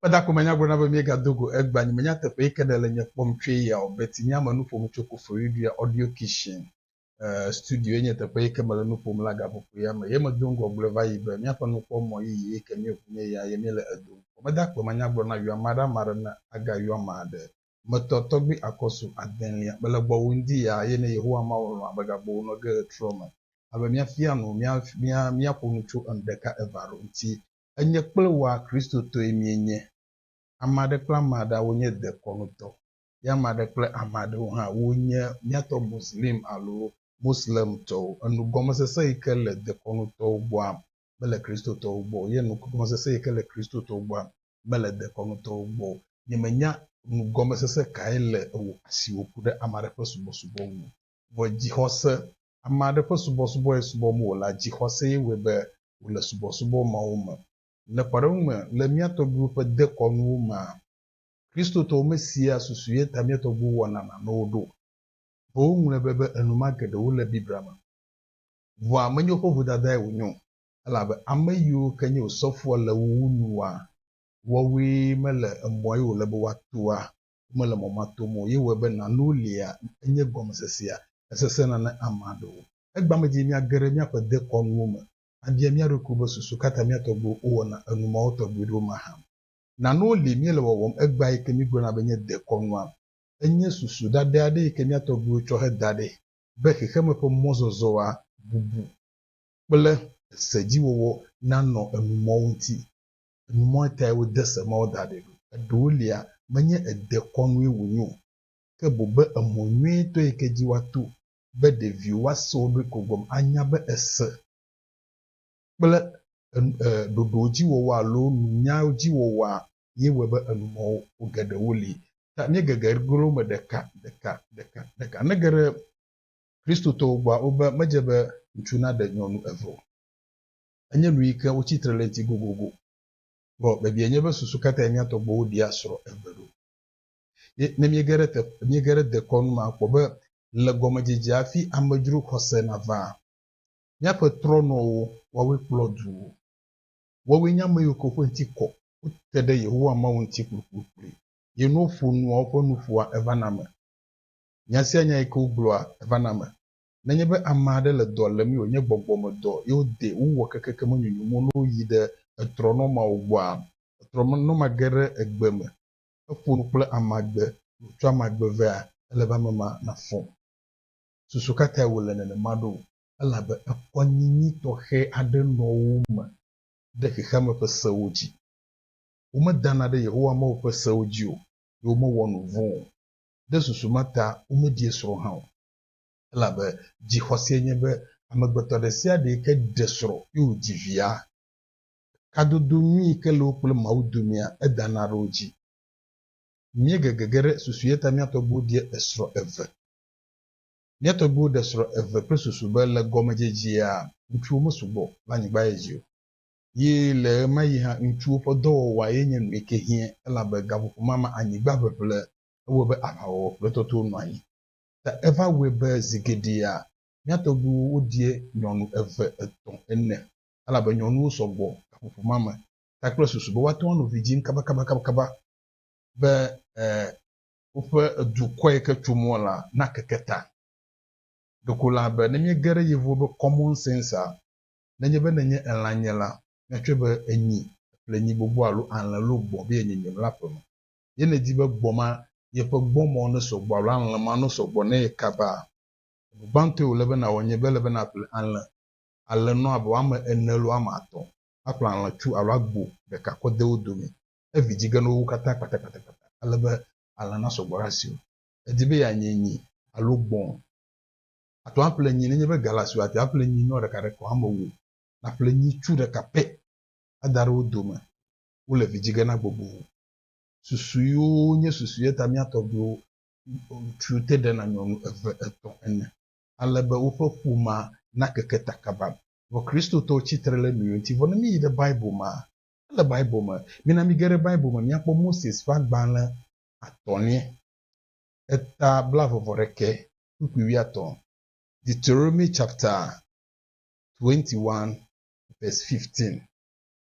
Kpeda ko menya gblɔna be mie ga do go egba nyi menya teƒe yi ke ɖe le nye kpɔm tsoe ya o but nye ame nuƒom tso Koforidua audio kitchen eh studio ye nye teƒe yi ke me le nuƒom la gaƒoƒo ya me ye me do ŋgɔ gblɔe va yi be mía ƒe nukpɔ mɔ yiyi yi ke mie ʋu nye ya ye mie le edo ŋgɔ meda kpe manya gblɔna yɔa maɖe maɖe ne aga yɔa maɖe me tɔ tɔgbi akɔsu adelia mele gbɔwu ŋdi ya eye ne Yehowa Mawu lɔ̃a be gagbo wo nɔ ge ɣetrɔ me a be mia fia nu mia mia mia ƒo nu tso enu ɖeka eva ɖo ŋti enye kple woa Kristotɔe mie nye ameaɖe kple ameaɖea wo nye dekɔnu tɔ ye ameaɖe kple ameaɖewo hã wo nye mia tɔ Muslim alo Moslem tɔwo enu gɔmesese yi ke le dekɔnu tɔwo gbɔa me. mele Kristotɔwo gbɔ o, ye nu gɔmesese yi ke le Kristotɔwo gbɔa mele dekɔnutɔwo gbɔ o. Nyemenya nu gɔmesese kae le ewò esi wòku ɖe ame aɖe ƒe subɔsubɔ ŋu o. Vɔ dzixɔse, ame aɖe ƒe subɔsubɔ ye subɔm wòle la, dzixɔse ye wɔe be wòle subɔsubɔ mawo me. Le kpɔɖeŋu me, le mía tɔgbuiwo ƒe dekɔnuwo mea, Kristotɔwo mesea susu ye ta mía tɔgbuiwo wɔna nanewo ɖo o. Vɔ woŋlɔe be be enuma geɖe wole Biblia me. Ŋua menyo ƒe vodadae wònyo, elabe ame yiwo ke nye wò sɔfoa le wò wu nua, woawoe mele emɔa ye wòle be woatoa, womele mɔ ma tom o, ye wɔe be nàno lia, enye gɔmesesea, esesẽna ne ame aɖe wo. Egbea me dzi míage ɖe míaƒe dekɔnuwo me abia mía ɖokuiwo be susu ka ta mía tɔgbuiwo wowɔna enu mawo tɔgbi ɖo mahã. Nano li míele wɔwɔm egbea yi ke mígblɔna be nye dekɔnua. Enye susu ɖaɖɛ aɖe yi ke mía tɔgbuiwo tsɔ heda ɖɛ be xexeme ƒe mɔzɔzɔa bubu kple esedziwɔwɔ nanɔ enu mɔwo ŋuti. Enu mɔe tae wode se mawo da ɖi ɖo. Eɖewolia, menye edekɔnue wònye o, ke boŋ be emɔ nyuitɔ yi ke dzi woato be ɖeviwo woase wo ɖokuiwo gɔme anya be ese kple ɖoɖowo dzi wɔwɔ alo nunyawo dzi wɔwɔa ye wɔe be enumɔwo geɖewo li. Ta míegege go ɖe wo me ɖeka, ɖeka, ɖeka, ɖeka. Ne ge ɖe Kristotɔwo gbɔa, wobe medze be ŋutsu naɖe nyɔnu eve o. Enye nu yi ke wotsi tre ɖe eŋuti gogogo. Vɔ biabiae nye be susu ka tae mía tɔgbuiwo ɖia srɔ̃ eve ɖo? Ye ne míege ɖe te, míege ɖe dekɔnu me akpɔ be le gɔmedzedzea hafi amedzro xɔse navaa, míaƒe trɔnɔwo, woawoe kplɔ duwo. Woawoe nye ame yiwo ke woƒe ŋuti kɔ, wote ɖe Yehowa Mawu ŋuti kplikplikpli. Ye ne woƒo nua, woƒe nuƒoa evana eme. Nya sia nya yi ke wogblɔa, evana eme. Nenye be ame aɖe le dɔ lém ye wònye gbɔgbɔmedɔ ye wodee wowɔ kekeke menyonyo mo ne woyi ɖe etrɔnɔmawo gbɔa, etrɔnɔma ge ɖe egbe me heƒo nu kple amagbe ye wòtsɔ amagbe vea, ele be ame ma nafɔ. Susu ka tae wòle nenema ɖo? elabe ekɔ nyinyi tɔxɛ aɖe nɔ wo me ɖe xexeame ƒe sewo dzi. Womedana ɖe Yehowa Mawu ƒe sewo dzi o, eye womewɔ nu vɔ̃ o. Ɖe susu ma ta womeɖie srɔ̃ hã o, elabe dzixɔse nye be amegbetɔ ɖesiaɖe yi ke ɖe srɔ̃ eye wòdzi via, kadodo nyui yi ke le wo kple Mawu domea, edana ɖe wo dzi. Míegegege ɖe susu eya ta mía tɔgbuiwo ɖie esrɔ̃ eve. Mía tɔgbuiwo ɖe srɔ̃ eve kple susu be le gɔmedzedzea ŋutsuwo mesugbɔ le anyigba ye dzi o. Ye le ɣemaɣi hã ŋutsuwo ƒe dɔwɔwɔae nye nu eke hiã elabe gaƒoƒo ma me anyigba ʋeʋle ewɔe be aʋawɔwɔ kple tɔtoo nɔ anyi. Ta eva wɔe be zi geɖea mía tɔgbuiwo woɖia nyɔnu eve, etɔ̃, ene elabe nyɔnuwo sɔ gbɔ gaƒoƒo ma me ta kple susu be woate ŋu ano vidzĩ kabakabakaba be e woƒe edukɔe ke tso mɔ la na keke ta. Ɖeko la be ne mie ge ɖe yevuwo be common sense a, ne nye be ne nye elã nye la, mia tsɔe be enyi, eplenyi gbogbo alo alẽ lo gbɔ be yenye nye mla ƒeme. Ye ne di be gbɔ ma ye ƒe gbɔ mɔ ne sɔ gbɔ alo alẽ ma no sɔ gbɔ ne ye kaba a, enu gbãtɔe wole be nawɔ nye be ele be na ƒle alẽ, alẽ nɔ abe woame ene alo woame atɔ, aƒle alẽtsu alo agbo ɖeka kɔ de wo dome. evidzigenowo katã kpatakpatakpata ale be alẽ nasɔ gbɔ ɖe asiwò. Èdi be yeanye nyi alo gbɔ̃? Àte ŋu aƒle nyi. Nenye be ga le asiwò la, àte ŋu aƒle nyinɔ ɖeka ɖe ko. Ame wò nàƒle nyitsu ɖeka pɛ ada ɖe wo dome. Wole vidzige na gbogbo. Susuewo nye susu ye ta mía tɔgbuiwo tu te ɖena nyɔnu eve, etɔ̃, ene ale be woƒe ƒomea nakeke ta kaba. Vɔ Kristotɔwo tsi tre ɖe nu yewo ŋuti. Vɔ ne míyi ɖe Bible mea, Ele Bible me. Mina mige ɖe Bible me míakpɔ Moses ƒe agbalẽ atɔ̃lia, eta blaeve-vɔ-ɖekɛ kpukpui wuiatɔ̃, Deuteronomy chapter 21 verse 15.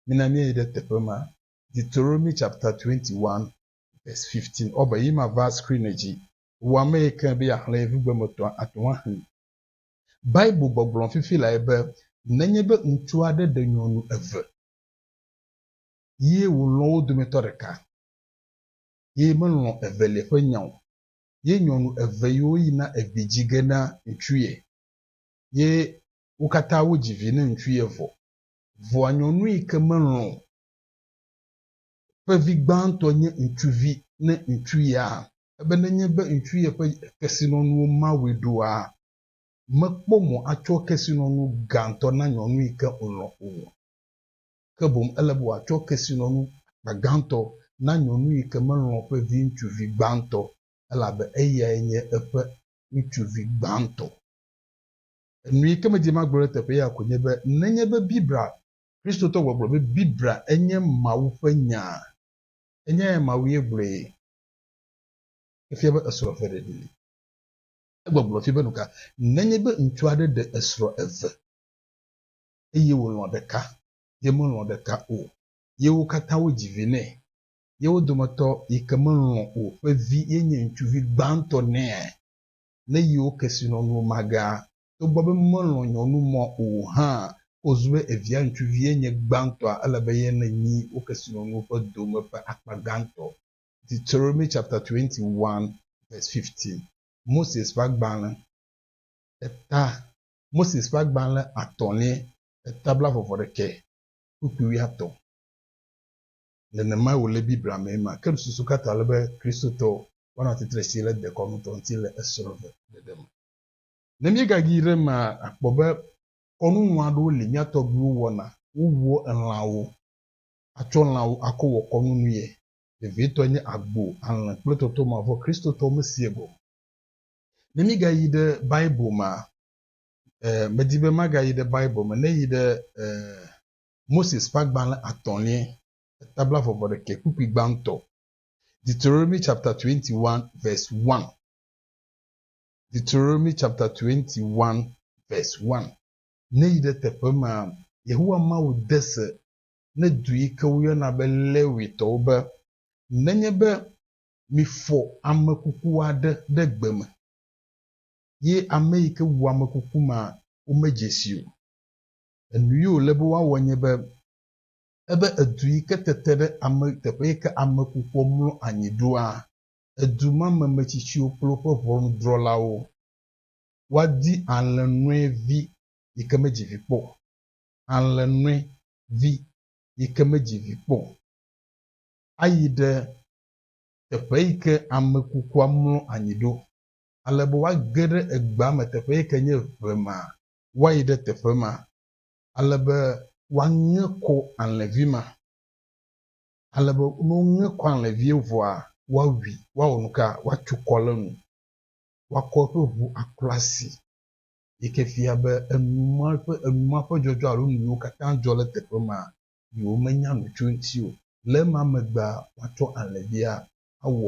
Mina míayi ɖe teƒe ma, Deuteronomy chapter 21 verse 15. Ɔ be yi mava screen dzi. Wò ame yi ke be yeaxlẽ yevugbemetɔa ate ŋu axli. Bible gbɔgblɔ fifi lae be nenye be ŋutsu aɖe ɖe nyɔnu eve ye wòlɔ̃ wo dometɔ ɖeka, ye melɔ̃ evelia ƒe nya o. Ye nyɔnu eve yiwo yina egbedzi ge na ŋutsu ye, ye wo katã wodzi vi na ŋutsu ye vɔ. Vɔa nyɔnu yi ke melɔ̃ o ƒe vi gbãtɔ nye ŋutsuvi ne ŋutsu ya, ebe nenye be ŋutsu ye ƒe kesinɔnuwo Mawue ɖoa, mekpɔ mɔ atsɔ kesinɔnu gãtɔ na nyɔnu yi ke ŋlɔ̃ o. ke boŋ ele be wòatsɔ kesinɔnu akpa gãtɔ na nyɔnu yi ke melɔ̃ ƒe viŋutsuvi gbãtɔ, elabe eyae nye eƒe ŋutsuvi gbãtɔ. Nu yi ke medi magblɔ ɖe teƒe ya koe nye be nenye be Biblia, Kristotɔ gbɔgblɔ be Biblia enye Mawu ƒe Nyaa, enyae Mawue gblɔe, efia be esrɔ̃ eve ɖeɖi li. Egbɔgblɔ fia be nuka nenye be ŋutsu aɖe ɖe esrɔ̃ eve? eye wòlɔ̃ ɖeka, ye melɔ̃ ɖeka o, ye wo katã wodzi vi nɛ, ye wo dometɔ yi ke melɔ̃ o ƒe vi ye nye ŋutsuvi gbãtɔ nɛ le yewo kesinɔnuwo mage, togbɔ be melɔ̃ nyɔnu mɔ o hã, ke wòzu be evia ŋutsuvi ye nye gbãtɔa, ele be ye nenyi wo kesinɔnuwo ƒe dome ƒe akpa gãtɔ. Deuteronomy chapter twenty one verse fifteen, Moses ƒe agbalẽ, eta Moses ƒe agbalẽ atɔ̃lia ƒe tabla vɔvɔ ɖekɛ kpukpui wuiatɔ̃. Nenemae wòle Biblia mee ma, ke nususu ka ta ele be Kristotɔwo woanɔ tsitre si le dekɔnutɔ ŋuti le esrɔ̃ve ɖeɖe me? Ne míegagi ɖe emea, àkpɔ be kɔnu nyui aɖewo li mía tɔgbuiwo wɔna. Wowua elãwo atsɔ lãwo akɔ wɔ kɔnu nuye. Vevietɔe nye agbo, alẽ kple tɔtɔmavɔ. Kristotɔwo mesia gɔme o. Ne mígayi ɖe Bible mea, eh, medi be magayi ɖe Bible me, neyi ɖe eh, Moses ƒe agbalẽ atɔ̃lia, etabla vɔvɔ ɖekɛ kpukpui gbãtɔ, Deuteronomy chapter 21 verse 1. Deuteronomy chapter 21 verse 1. Neyi ɖe teƒe mea, Yehowa Mawu de se ne du yi ke woyɔna be Lewitɔwo be, Nenye be Mifɔ ame kuku aɖe ɖe gbe me, ye ame yi ke wu ame kuku ma, womedze sii o. Enu yi wòle be woawɔ nye be, ebe edu yi ke tete ɖe ame, teƒe yi ke ame kukua mlɔ anyi ɖoa, edu ma me metsitsiwo kple woƒe ʋɔnudrɔ̃lawo, woadi alẽnɔe vi yi ke medzi vi kpɔ o, alẽnɔe vi yi ke medzi vi kpɔ o, ayi ɖe teƒe yi ke ame kukua mlɔ anyi ɖo, ale be woage ɖe egbea me teƒe yi ke nye ʋe ma, woayi ɖe teƒe ma, ale be woaŋe kɔ alẽvi ma, ale be ne woŋe kɔ alẽvia vɔa, woawui, woawɔ nu ka? Woatso kɔ ɖe enu, woakɔ eƒe ŋu aklɔ asi, yi ke fia be enu ma ƒe, enu ma ƒe dzɔdzɔ alo nu yiwo katã dzɔ ɖe teƒe ma, yi womenya nu tso eŋuti o. Le ema megbea, woatsɔ alẽvia awɔ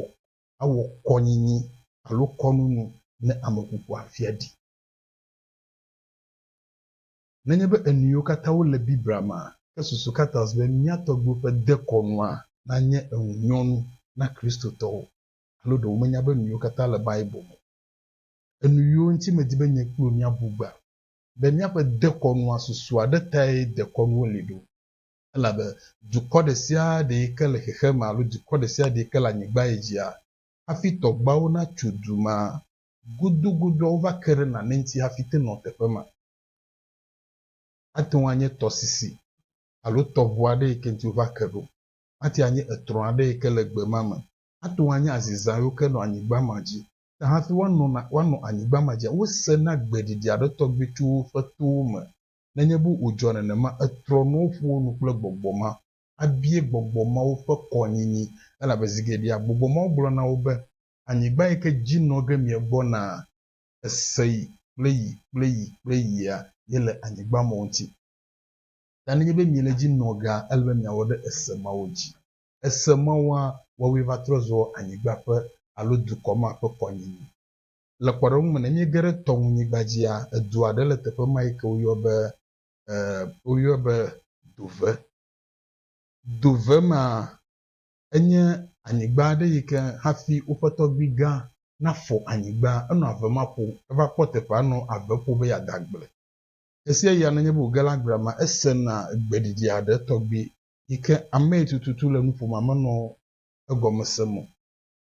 awɔ kɔnyinyi alo kɔnunu ne ameƒoƒoa fia ɖi. Nenye be enuyiwo katã wole Biblia mea, ke susu ka ta be mía tɔgbuiwo ƒe dekɔnua nanye eŋunyɔnu na Kristotɔwo? Alo ɖe womenya be nuyiwo katã le Bible me o? Enuyiwo ŋuti medi be nye kpli wò míabu gbea? be míaƒe dekɔnua susu aɖe tae dekɔnuwo li ɖo. Elabe dukɔ ɖe sia ɖe yi ke le xexeame alo dukɔ ɖe sia ɖe yi ke le anyigba yi dzia, hafi tɔgbawo natso du ma gudugudu wova ke ɖe nane ŋuti hafi te nɔ teƒe ma. Ate ŋu anye tɔsisi alo tɔʋu aɖe yi ke ŋuti wova ke ɖo. Ate ŋu anye etrɔ̃ aɖe yi ke le gbe ma me. Ate ŋu anye azizã yiwo ke nɔ anyigba ma dzi. ta hafi woanɔ na, woanɔ anyigba ma dzi. Wose na gbeɖiɖi aɖe tɔgbi tso woƒe towo me. Nenye be wòdzɔ nenema, etrɔ nuwo ƒo wo nu kple gbɔgbɔ ma. Abie gbɔgbɔ mawo ƒe kɔnyinyi, elabe zi geɖea gbɔgbɔ mawo gblɔ na wo be, Anyigba yi ke dzi nɔ ge miegbɔnaa, ese yi kple yi kple yi kple yia, yele anyigba mawo ŋuti. Ta nenye be miele edzi nɔ gea, ele be miawɔ ɖe ese mawo dzi. ese me wa woawoe va trɔ zɔ anyigba ƒe alo dukɔ ma ƒe kɔnyinyi. Le kpɔɖeŋu me, ne míege ɖe tɔŋunyigba dzia, edu aɖe le teƒe ma yi ke woyɔ be, e, woyɔe be Dover. Dover ma enye anyigba aɖe yi ke hafi woƒe tɔgbui gã nafɔ anyigba, enɔ ave ma ƒo, eva kpɔ teƒea nɔ ave ƒo be yeada agble. Ɣesiaɣia nenye be wòge ɖe agblea mea, esena gbeɖiɖi aɖe tɔgbi yi ke amee tututu le nuƒomea menɔ egɔme sem o,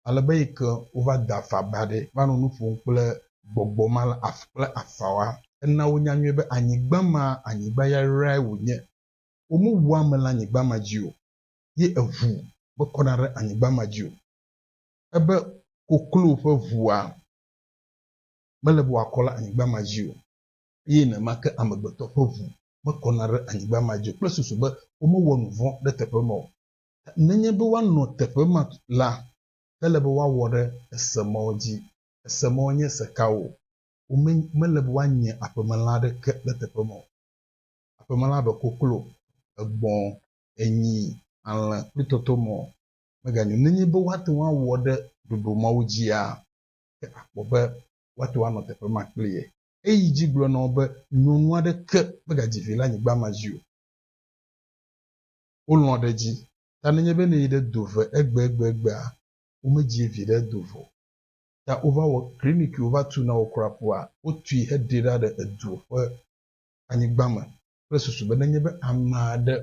ale be yi ke wova da afa ba ɖe va nɔ nu ƒom kple gbɔgbɔ ma la kple afawoa, ena wonya nyuie be anyigba ma, anyigba yayrae wònye. Womewu ame le anyigba ma dzi o, ye eŋu mekɔna ɖe anyigba ma dzi o. Ebe koklo ƒe ŋua mele be wòakɔ ɖe anyigba ma dzi o, eye nenema ke amegbetɔ ƒe ŋu mekɔna ɖe anyigba ma dzi kple susu be womewɔ nu vɔ̃ ɖe teƒe ma o. Nenye be woanɔ teƒe ma la, ele be woawɔ ɖe ese mawo dzi. Ese mawo nye se kawo? Wome, mele be woanye aƒemelã aɖeke ɖe teƒe ma o. Aƒemelã abe koklo, egbɔ̃, enyi, alẽ kple tɔtɔmɔ meganyo nenye be woate ŋu awɔ ɖe ɖoɖo mawo dzia, ke akpɔ be woate ŋu anɔ teƒe ma kpli ye. Eyi edzi gblɔ na wo be, Nyɔnu aɖeke megadzi vi le anyigba ma dzi o. Wolɔ̃ ɖe edzi ta nenye be ne yi ɖe do ve egbegbegbea, womedzi vi ɖe do ve o. Ta wova wɔ kliniki wova tu na wo kura ƒua wotui heɖee ɖa ɖe edu ƒe anyigba me kple susu be nenye be ame aɖe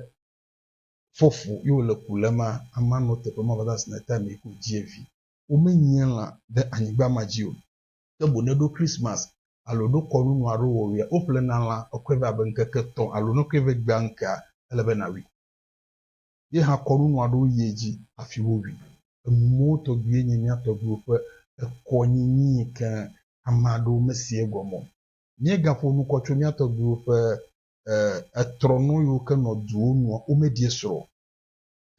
fɔ fu ye wòle ku le emea, amea nɔ teƒe ma va de asi na ye ta amee ko dzi vi. Womenyia lã ɖe anyigba ma dzi o. ke boŋ ne ɖo Christmas alo ɖo kɔnu nu alo wɔwuia, woƒlena lã kɔkɔe vɛ abe ŋkeke etɔ̃ alo ne kɔe vɛ gbea ŋkea, ele be nàwui. Ye hã kɔnu nu aɖewo yi edzi hafi wowui. Enu mawo tɔgbiwoe nye mía tɔgbiwo ƒe ekɔnyinyi yi ke ame aɖewo mesea egɔme o. Míegaƒo nu kɔ tso mía tɔgbiwo ƒe etrɔnɔ yiwo ke nɔ duwo nua, womeɖie srɔ̃ o.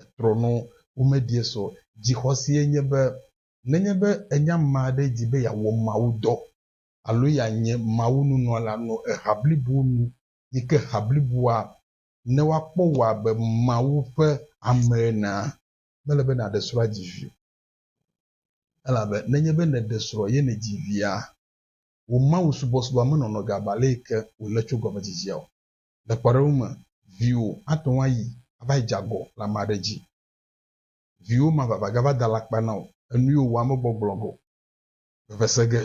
Etrɔnɔ, womeɖie srɔ̃ o. Dzixɔse ye nye be Nenye be ènye ame aɖe di be yeawɔ mawudɔ alo yeanye mawununɔla nɔ eha blibo nu yi ke ha bliboa ne woakpɔ wò abe Mawu ƒe ame enea, mele be nàɖe srɔ̃ adzi vi o. Elabe nenye be nèɖe srɔ̃ ye nèdzi via, wò mawusubɔsubɔa menɔnɔ ge abe ale yi ke wòle tso gɔmedzedzea o. Le kpɔɖeŋu me, viwò ate ŋu ayi ava dze agɔ le ame aɖe dzi. viwò ma vava gava da alakpa na wò, enuiwò wò ame gbɔgblɔ go. Vevese ge.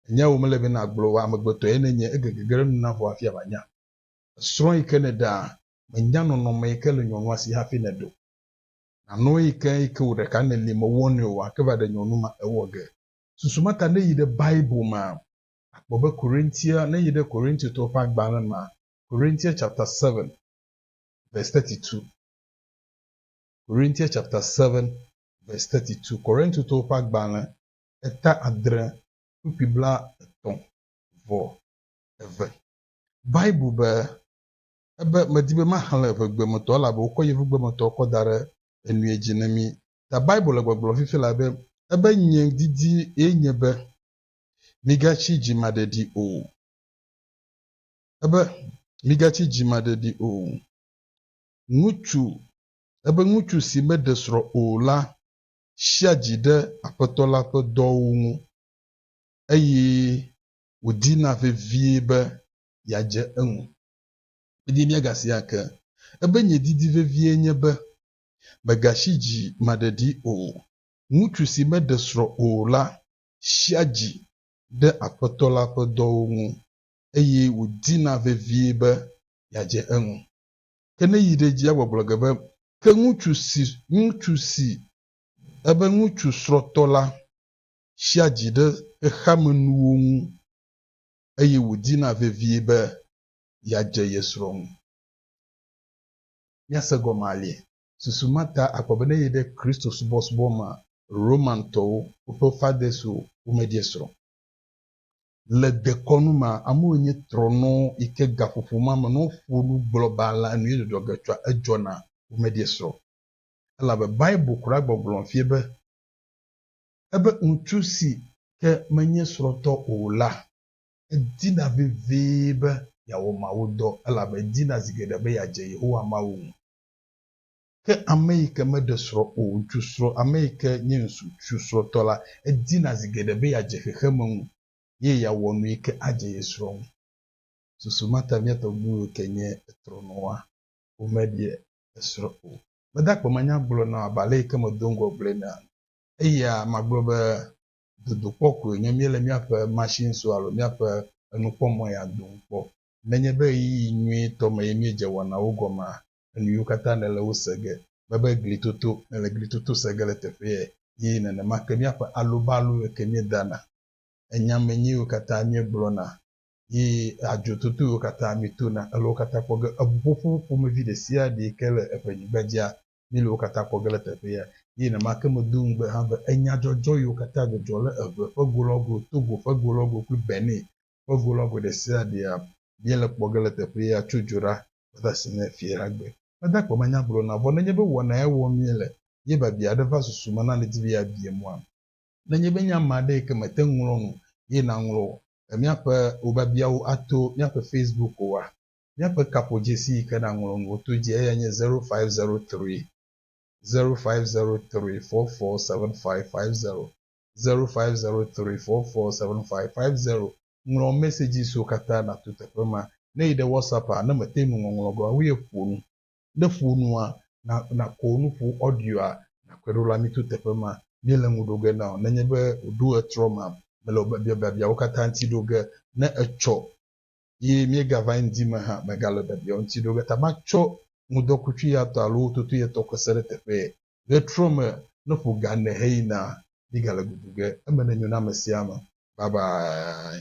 Enya wò mele be na gblɔ wò amegbetɔe ne nye ege gege ɖe nu na vɔ hafi ava nya. Esrɔ̃ yi ke ne ɖaa, me nya nɔnɔme yi ke le nyɔnua si hafi ne ɖo. Na nɔe yi ke yi ke wò ɖeka ne li me wɔ nɔe wò ake va ɖe nyɔnu ma ewɔ ge. Susu ma ta ne yi ɖe Bible ma, akpɔ be Korintia, ne yi ɖe Korintiotɔwo ƒe agbalẽ ma, Korintia chapter seven verse thirty two. Korintia chapter 7 verse 32, Korintotɔwo ƒe agbalẽ eta adre kpukpui blaetɔ̃ vɔ eve. Bible be, Ebe medi be maxlẽ eŋegbemetɔ, elabe wokɔ yevugbemetɔ kɔ da ɖe enui dzi ne mí. Ta Bible le gbɔgblɔm fifi lae be, Ebe nye didi ye nye be migatsi dzimaɖeɖi o. Ebe migatsi dzimaɖeɖi o. ŋutsu, ebe ŋutsu si meɖe srɔ̃ o la sia dzi ɖe Aƒetɔ la ƒe dɔwo ŋu, eye wòdina vevie be yeadze eŋu. Eye míagasi ake ebe nye didi vevie nye be megasi dzi maɖeɖi o. Ŋutsu si meɖe srɔ̃ o la sia dzi ɖe Aƒetɔ la ƒe dɔwo ŋu, eye wòdina vevie be yeadze eŋu. Ke ne yi ɖe edzia gbɔgblɔ ge be, Ke ŋutsu si, ŋutsu si ebe ŋutsu srɔ̃tɔ la tsia dzi ɖe xexeamenuwo ŋu eye wòdina vevie be yeadze ye srɔ̃ ŋu. Míase gɔme alie. Susu ma ta akpɔ be ne yi ɖe Kristo subɔsubɔ mea, Romantɔwo, woƒe fathers-wo, womedie srɔ̃ o. Le dekɔnu mea, amewo nye trɔnɔ yi ke gaƒoƒo ma me ne woƒo nu gblɔ be alea enu ye dzɔdzɔ ge tsɔa, edzɔna womedie srɔ̃ o. Elabe Bible kura gbɔgblɔm fie be, Ebe ŋutsu si ke menye srɔ̃tɔ o la, edina vevie be yeawɔ mawudɔ, elabe edina zi geɖe be yeadze Yehowa Mawu ŋu. Ke ame yi ke meɖe srɔ̃ o, ŋutsu srɔ̃, ame yi ke nye ŋutsu srɔ̃tɔ la, edina zi geɖe be yeadze xexeme ŋu eye yeawɔ nu yi ke adze ye srɔ̃ ŋu. Susu ma ta mía tɔgbuiwo yi ke nye trɔ̃nɔwoa, womeɖe srɔ̃ o. Mede akpe me nya gblɔ na wò abe ale yi ke medo ŋgɔ gblɔe enea? Eya magblɔ be dodokpɔ koe nye míele míaƒe machine so alo míaƒe enukpɔmɔ ya dom kpɔ. Nenye be ɣeyiɣi nyuitɔ mee míedze wɔnawo gɔmea, enuyiwo katã nèle wo se ge, bebe glitoto nèle glitoto se ge le teƒeɛ, yi nenema ke míaƒe alobalo yiwo ke míedana, enya menye yiwo katã míegblɔna, yi adzototo yiwo katã míetona, ele wo katã kpɔ ge. Eŋuƒoƒo ƒomevi ɖesiaɖe yi ke le eƒe nyigba dzia, míele wo katã kpɔ ge le teƒeɛ, yi nenema ke medo ŋugbe hã be enyadzɔdzɔ yiwo katã dzɔdzɔ le eŋe ƒe go lɔ go, Togo ƒe go lɔ go kple Benin ƒe go la gbe ɖe sia ɖea míele kpɔ ge le teƒe ya tso dzo ɖa kpata asi ne fiẽ la gbe. Meda akpe manya gblɔ na vɔ nenye be wɔnae wɔm míele ye biabia aɖe va susu me na nèdi be yeabie mɔa? Nenye be nye ame aɖe yi ke mete ŋu ŋlɔ nu ye naŋlɔ míaƒe wò biabiawo ato míaƒe Facebook oa? Míaƒe kaƒodzesi yi ke nàŋlɔ nuwo to dzi eyae nye zero five zero three zero five zero three four four seven five five zero. zero five zero three four four seven five five zero ŋlɔ mɛsɛdzi siwo katã nàto teƒe ma. Ne yi ɖe WhatsApp-a, ne mète ŋu ŋɔŋlɔ be woawoe ƒo nu. Ne ƒo nua, na nàkɔ wò nuƒo audio-a nàkɔe ɖo la, mito teƒe ma. Míele ŋu ɖo ge na wò. Nenye be wòɖo ɣetrɔ ma me le wò biabiawo katã ŋuti ɖo ge, ne ètsɔ. ye míegava eme di me hã megale biabia wo ŋuti ɖe o. Eyata matsɔ ŋudɔkutsuiyatɔ alo wototuyatɔ ke se ɖe teƒee. Ɣetrɔ me ne ƒo ga ne heyina, míegale gugu ge. Eme nenyo na ame sia ame. Bye bye.